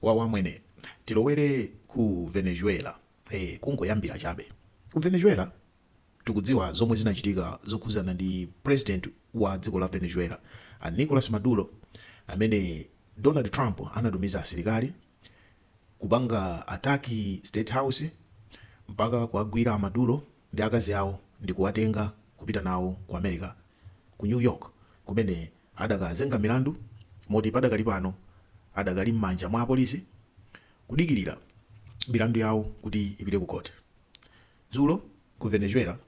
Wawa mwene. Tilowere ku Venezuela ee kungoyambira chabe. Ku Venezuela tikudziwa zomwe zinachitika zokhuzana ndi president wa dziko la Venezuela a Nicolas Maduro amene Donald Trump anatumiza asilikali kupanga attack state house mpaka kuwagwira a Maduro ndi akazi awo ndikuwatenga kupita nawo ku America ku New York kumene adakazenga milandu moti padakali pano adakali m'manja mwa apolisi kudikirira milandu yawo kuti ipite ku khoti. Dzulo ku Venezuela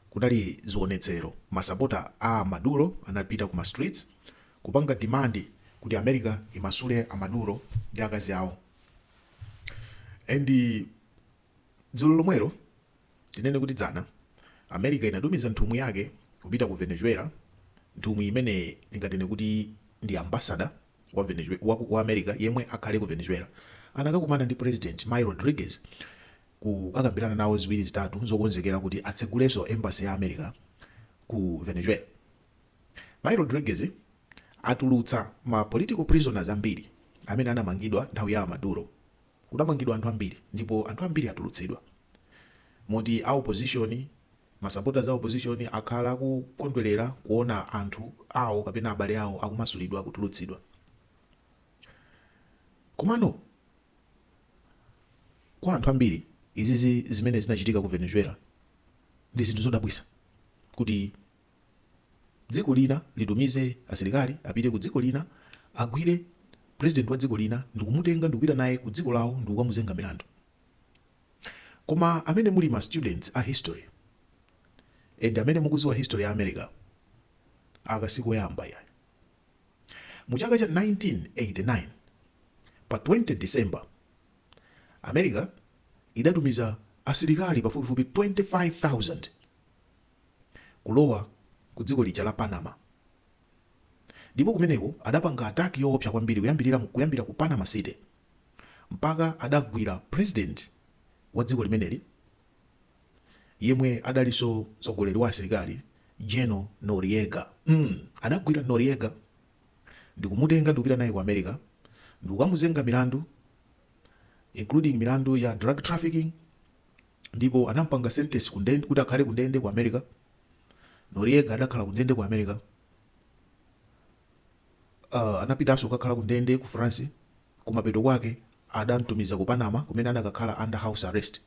kunali zionetsero, masapota a a Maduro anapita ku ma streets kupanga demand kuti America imasule a Maduro ndi akazi awo and dzulo lomwelo, Tinene kuti dzana, America inatumiza nthumwi yake kupita ku Venezuela, nthumwi imene tinganene kuti ndi ambassador wa Venezuela, wa, wa America yemwe akhale ku Venezuela. Anakakumana ndi president Mayi Rodriguez kukakambirana nawo ziwiri zitatu zokonzekera kuti atsegulenso embassy ya America ku Venezuela. Mayi Rodriguez atulutsa ma political prisoners ambiri amene anamangidwa nthawi ya a Maduro. Kudamangidwa anthu ambiri ndipo anthu ambiri atulutsidwa moti a opposition, ma supporters a opposition akhala akukondwerera kuona anthu awo kapena abale awo akumasulidwa, kutulutsidwa. Komano kwa anthu ambiri izizi zimene zinachitika ku Venezuela ndi zinthu zodabwisa kuti. dziko lina litumize asilikali apite ku dziko lina agwire president wa dziko lina ndikumutenga ndikupita naye ku dziko lawo ndikukamuzenga milandu koma amene muli ma students a history and amene mukuziwa history ya america aka sikoyamba ayi mu chaka cha 1989 pa 20 december america idatumiza asilikali pafupifupi 25000 kulowa ku dziko lija la Panama ndipo kumeneko adapanga attack yoopsa kwambiri kuyambirira kuyambira ku Panama city mpaka adagwira president wa dziko limeneli yemwe adalinso mtsogoleri wa asilikali General Noriega mm adagwira Noriega ndikumutenga ndikupita naye ku America ndikukamuzenga milandu including milandu ya drug trafficking ndipo anampanga sentence kuti akhale ku ndende ku America Noriega adakhala ku ndende ku America uh, anapitanso kukakhala ku ndende ku France kumapeto kwake adamtumiza ku Panama kumene anakakhala under house arrest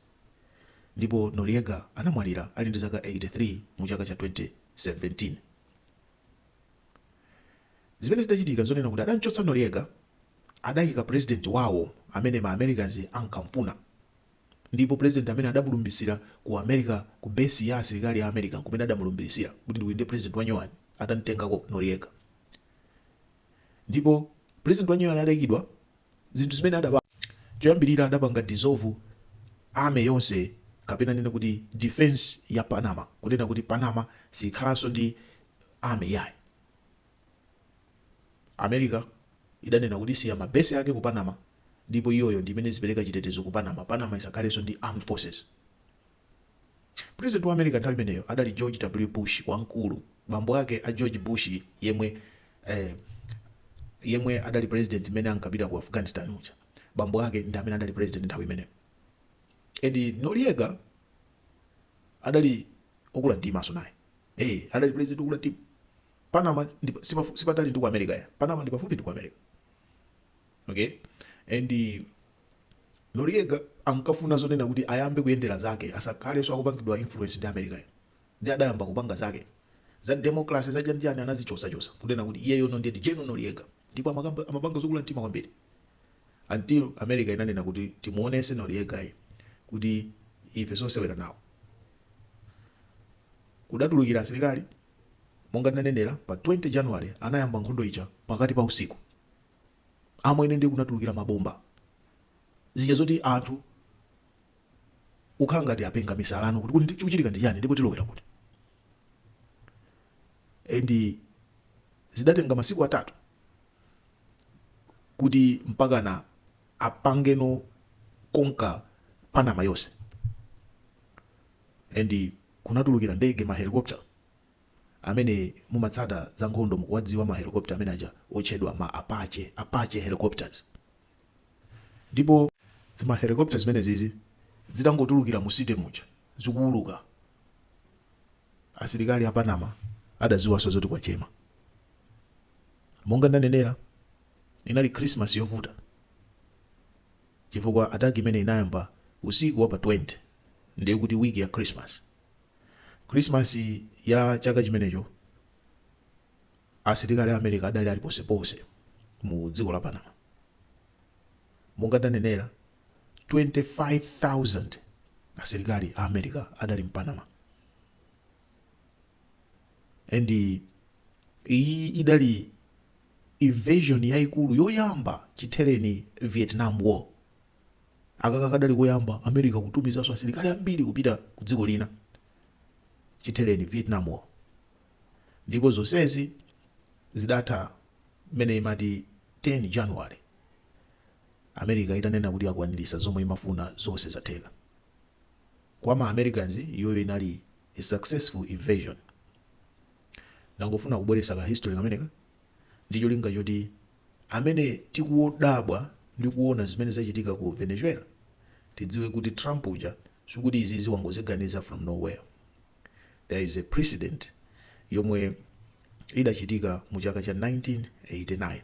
ndipo Noriega anamwalira ali ndi zaka 83 mu chaka cha 2017 zimene zidachitika zonena kuti adamchotsa Noriega adayika president wawo amene ma Americans ankamfuna Ndipo President amene adamulumbiritsira ku America ku base ya asilikali ya America nkumene adamulumbiritsira kuti ndi uyu ndiye President wa nyowani atamtengako Noriega ndipo President wa nyowani ataikidwa zinthu zimene adapanga choyambirira adapanga dissolve army yonse kapena ndinene kuti defense ya Panama kunena kuti Panama siyikhalanso ndi army iyayi. America idanena kuti isiya ma base ake ku Panama ndipo iyoyo ndi imene izipeleka chitetezo ku Panama, Panama isakhalenso ndi armed forces. President wa America nthawi imeneyo adali George W. Bush wamkulu, bambo ake a George Bush yemwe eh yemwe adali president mmene ankapita ku Afghanistan muja, bambo ake ndi amene adali president nthawi imeneyo and Noriega adali okula mtimanso naye, eh adali president okula mtima. Panama ndi sipafu- sipatali ndi ku America ya. Panama ndi pafupi ndi ku America. Okay? And eh, Noriega ankafuna zonena kuti ayambe kuyendera zake asakhalenso akupangidwa influence ndi America ya. Ndi adayamba kupanga zake. Za democracy za chanjani anazichotsachotsa kunena kuti iyeyo no ndiye ndi General Noriega ndipo amakamba- amapanga zokula mtima kwambiri until America inanena kuti timuonetse Noriegayu kuti ife sosewera nawo. kudatulukira asilikali Monga ndinanenera, pa 20 January anayamba nkhondo ija pakati pa usiku. Amwene ndiye kunatulukira mabomba. Zija zoti anthu kukhala ngati apenga misala no kuti kodi chikuchitika ndi chani ndipo tilowera kuti. And zidatenga masiku atatu kuti mpakana apangeno conquer Panama yonse. And kunatulukira ndege ma helicopter amene mumatsata za nkhondo mukuwadziwa ma helicopter amene aja otchedwa ma apache, apache helicopters, ndipo zima helicopter zimenezizi zitangotulukira mu city muja zikuuluka asilikali a panama adaziwanso zoti kwachema monga ndanenera inali christmas yovuta. chifukwa attack imeneyi inayamba usiku wa pa 20 ndiye kuti week ya Christmas. Christmas ya chaka chimenecho asilikali a America adali ali ponseponse mu dziko la Panama. Monga ndanenera 25,000 asilikali a America adali mu Panama. And iyi idali invasion yaikulu yoyamba chithereni vietnam war akaka kadali koyamba america kutumizanso asilikali ambiri kupita ku dziko lina chithereni vietnam war ndipo zonsezi zidatha mmene imati 10 january america itanena kuti yakwanirisa zomwe imafuna zonse zatheka kwa ma americans iyoyo inali a successful invasion. Ndangofuna kubweretsa ka history kameneka ndi cholinga choti amene tikudabwa ndi kuona zimene zachitika ku Venezuela tidziwe kuti Trump uja sikuti izizi wangoziganiza from nowhere. There is a precedent yomwe idachitika mu chaka cha 1989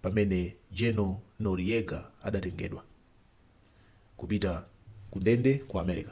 pamene General Noriega adatengedwa kupita ku ndende ku America.